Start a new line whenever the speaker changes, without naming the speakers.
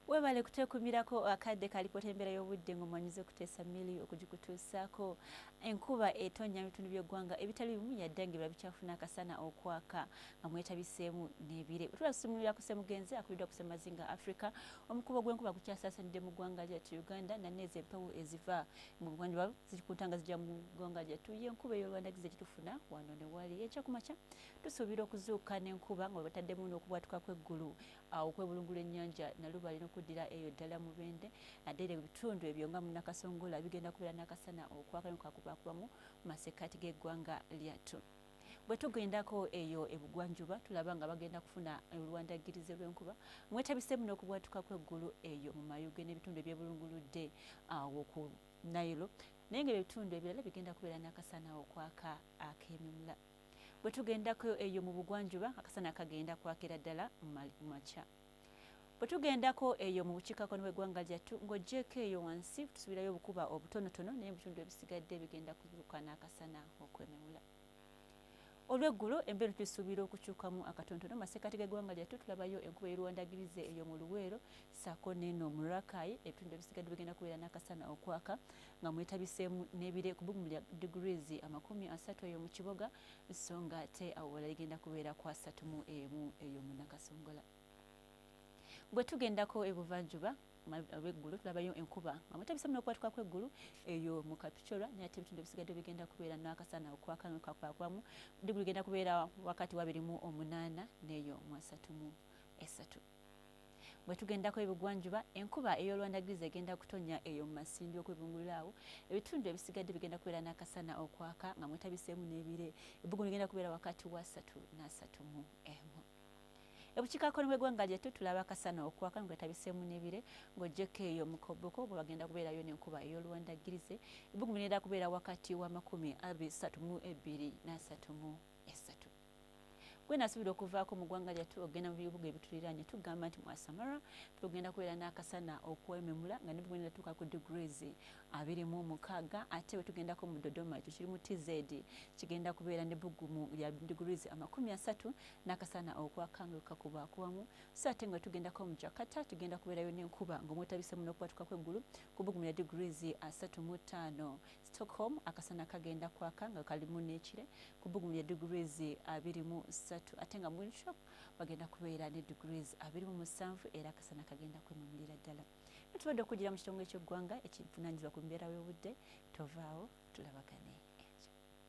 Webale kutwekumirako akadde ka alipoota y'embeera y'obudde ng'omwanyiza okuteesa Milly okugikutuusaako. Enkuba etonnya mu bitundu by'eggwanga ebitali bimu yadde ng'ebirala bikyafuna akasana okwaka nga mwetabiseemu n'ebire. Bwetula tusumululira ku Ssemugenzi akubiddwa ku Ssemazinga Africa, omukuba gw'enkuba gukyasaasanidde mu ggwanga lyattu Uganda nga neezo empewo eziva mu buvanjuba ziri ku ntanga zijja mu ggwanga lyattu y'enkuba ey'olubandagizi gyetufuna wano ne wali. Enkya ku makya tusuubira okuzuukuka n'enkuba nga bwebataddemu n'okubwatuka kw'eggulu Awo okwebulungula ennyanja Nalubaale n'okuddira eyo ddala Mubende naddala ebitundu ebyo nga mu Nakasongola bigenda kubeera n'akasana okwaka ne bwekaakubakubamu mu masekkaati g'eggwanga lyattu. Bwe tugendako eyo e Bugwanjuba tulaba nga bagenda kufuna olwandaggirize lw'enkuba mwetabiseemu n'okubwatuka kw'eggulu eyo mu Mayuge n'ebitundu ebyebulunguludde awo ku Nile naye ng'ebyo ebitundu ebirala bigenda kubeera n'akasana okwaka ak'emimula. Bwe tugendako eyo mu bugwanjuba, akasana kagenda kwakira ddala mu ma, mu makya. Bwe tugendako eyo mu bukiikakkono bw'eggwanga lyattu, nga oggyeeko eyo wansi, tusuubirayo obukuba obutonotono, naye ebitundu ebisigadde bigenda kuzuukuka n'akasana okwememula. Olw'eggulo, embeera tugisuubira okukyukamu akatonotono. Mu masekkati g'eggwanga lyattu tulabayo enkuba ey'oluwandagirize eyo mu Luweero, ssaako n'eno mu Rakai ebitundu ebisigadde bigenda kubeera n'akasana okwaka nga mwetabiseemu n'ebire ku bbugumu lya degrees amakumi asatu eyo mu kiboga sso nga ate awewala ligenda kubeera ku asatu mu emu eyo mu Nakasongola. Bwe tugendako ebuvanjuba ab'eggulu tulabayo enkuba nga mwetabiseemu n'okubatuka kw'eggulu eyo mu Kapchorwa naye ate ebitundu ebisigadde bigenda kubeera n'akasana okwaka nga kakwakwamu degrees ligenda kubeera wakati wabiri mu omunaana n'eyo mu asatu mu esatu. Bwe tugendako ebugwanjuba, enkuba ey'oluwandaggirizi egenda kutonnya eyo mu masindwi okwebungulula awo. Ebitundu ebisigadde bigenda kubeera n'akasana okwaka nga mwetabiseemu n'ebire. Ebbugumu ligenda kubeera wakati wa ssatu n'asatu mu emu. Ebukiikakkono bw'eggwanga lyattu tulaba akasana okwaka nga kwetabiseemu n'ebire. Ng'oggyeko eyo mu koboko bwe wagenda kubeerayo n'enkuba ey'oluwandaggirizi, ebbugumu ligenda kubeera wakati wa makumi abiri ssatu mu ebbiri n'asatu mu essatu. gwe nasuubira okuvaako mu ggwanga lyattu okugenda mu bibuga ebituliraanye tugamba nti mwasamara tugenda kubeera n'akasana okwememula nga ne tugenda tuuka ku degrees abiri mu mukaaga ate bwe tugendako mu dodoma ekyo kiri mu tz kigenda kubeera ne buggumu lya degrees amakumi asatu n'akasana okwaka nga kakuba kuwamu so ate nga tugendako mu jakata tugenda kubeerayo n'enkuba ng'omwetabisemu n'okubatukako eggulu ku buggumu lya degrees asatu mu ttaano Stockholm akasana kagenda kwaka nga kalimu n'ekire kubbugumu lya degrees abiri mu ssatu ate nga mu Windhoek wagenda kubeera ne degrees abiri mu musanvu era akasana kagenda kwemamulira ddala. Bino tubadde okugira mu kitongole ky'eggwanga ekivunaanyizibwa ku mbeera y'obudde tovaawo tulabagane.